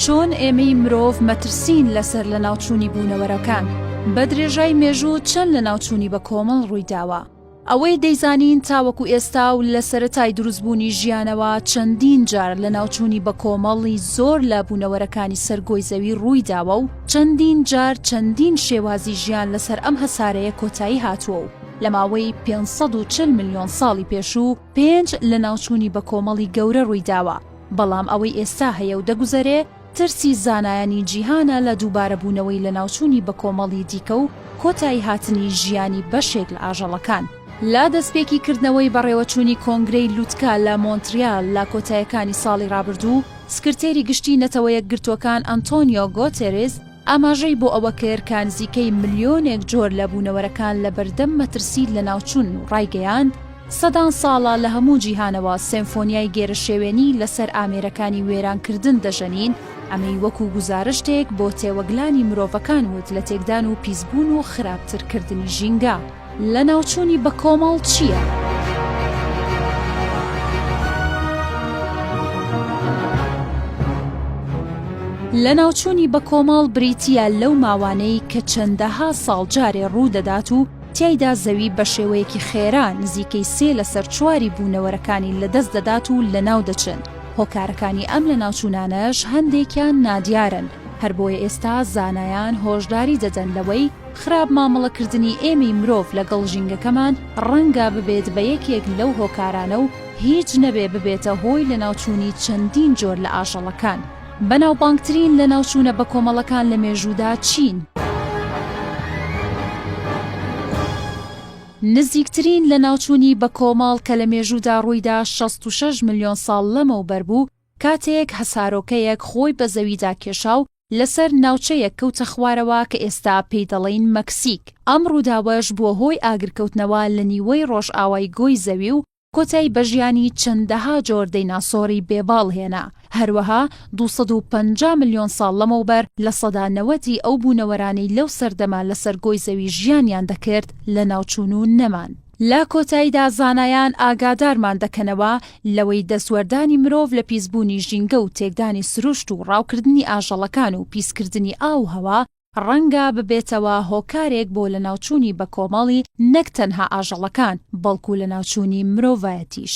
چۆن ئێمەی مرۆڤ مەترسین لەسەر لە ناوچووی بوونەوەرەکان بە درێژای مێژوو چەند لە ناوچووی بە کۆمەڵ ڕوویداوە ئەوەی دەیزانین تاوەکو ئێستا و لە سەرەتای دروستبوونی ژیانەوە چەندین جار لە ناوچووی بە کۆمەڵی زۆر لە بوونەوەرەکانی سەرگۆی زەوی ڕووی داوە و چەندین جار چەندین شێوازی ژیان لەسەر ئەم هەسارەیە کۆتایی هاتووە و لە ماوەی 540 میلیۆن ساڵی پێشوو پێنج لەناوچوونی بەکۆمەڵی گەورە ڕوویداوە، بەڵام ئەوەی ئێستا هەیە و دەگوزەرێ ترسی زانایانی جیهانە لە دووبارەبوونەوەی لەناوچوونی بەکۆمەڵی دیکە و کۆتاییهاتنی ژیانی بەشێک لە ئاژەڵەکان. لە دەستپێکی کردنەوەی بەڕێوەچوونی کۆنگرەی لوتکە لە مۆنتریال لە کۆتایەکانی ساڵی ڕابردوو، سکرتێری گشتی نەتەوەیەکگرتووەکان ئەنتۆنیۆ گۆتێریس، ئاماژەی بۆ ئەوە کرد کە نزیکەی ملیۆنێک جۆر لە بوونەوەرەکان لە بەردەم مەترسی لەناوچوون و ڕایگەیاند، سەدان ساڵە لە هەموو جیهانەوە سێمفۆنیای گێرەشێوێنی لەسەر ئامێرەکانی وێرانکردن دەژەنین، ئەمەی وەکو گوزارشتێک بۆ تێوەگلانی مرۆڤەکان وت لە تێکدان و پیسبوون و خراپترکردنی ژینگە. لەناوچوونی بەکۆمەڵ چییە؟ لەناوچوونی بەکۆمەڵ بریتییە لەو ماوانەی کە چەندەها ساڵ جارێ ڕوودەدات و تیایدا زەوی بە شێوەیەکی خێرا نزیکەی سێ لەسەر چواری بوونەوەرەکانی لەدەست دەدات و لەناو دەچن، هۆکارەکانی ئەم لەناوچوونانەش هەندێکیان نادیارن، هەر بۆیە ئێستا زانایان هۆشداری دەدەن لەوەی، خراپ مامەڵە کردنی ئێمەی مرۆڤ لەگەڵ ژینگەکەمان ڕەنگە ببێت بە یەکێک لەو هۆکارانە و هیچ نەبێ ببێتە هۆی لەناوچوونی چەندین جۆر لە ئاژەڵەکان. بەناوبانگترین لەناوچوونە بەکۆمەڵەکان لە مێژوودا چین؟ نزیکترین لەناوچوونی بەکۆمەڵ کە لە مێژوودا ڕوویدا شەست و شەش ملیۆن ساڵ لەمەوبەر بوو کاتێک هەسارۆکەیەک خۆی بە زەویدا کێشا و لەسەر ناوچەیەک کەوتە خوارەوە کە ئێستا پێی دەڵێین مەکسیک، ئەم ڕووداوەش بووە هۆی ئاگرکەوتنەوە لە نیوەی ڕۆژئاوای گۆی زەوی و کۆتایی بە ژیانی چەندەها جۆر دەیناسۆری بێ باڵ هێنا، هەروەها دوو سەد و پەنجا ملیۆن ساڵ لەمەوبەر لە سەدا نەوەدی ئەو بوونەوەرانەی لەو سەردەمە لەسەر گۆی زەوی ژیانیان دەکرد لەناوچوون و نەمان. لە کۆتاییدا زانایان ئاگادارمان دەکەنەوە لەوەی دەستوەردانی مرۆڤ لە پیسبوونی ژینگە و تێکدانی سروشت و ڕاوکردنی ئاژەڵەکان و پیسکردنی ئاو و هەوا ڕەنگە ببێتەوە هۆکارێک بۆ لەناوچوونی بەکۆمەڵی نەک تەنها ئاژەڵەکان، بەڵکو لەناوچوونی مرۆڤایەتیش.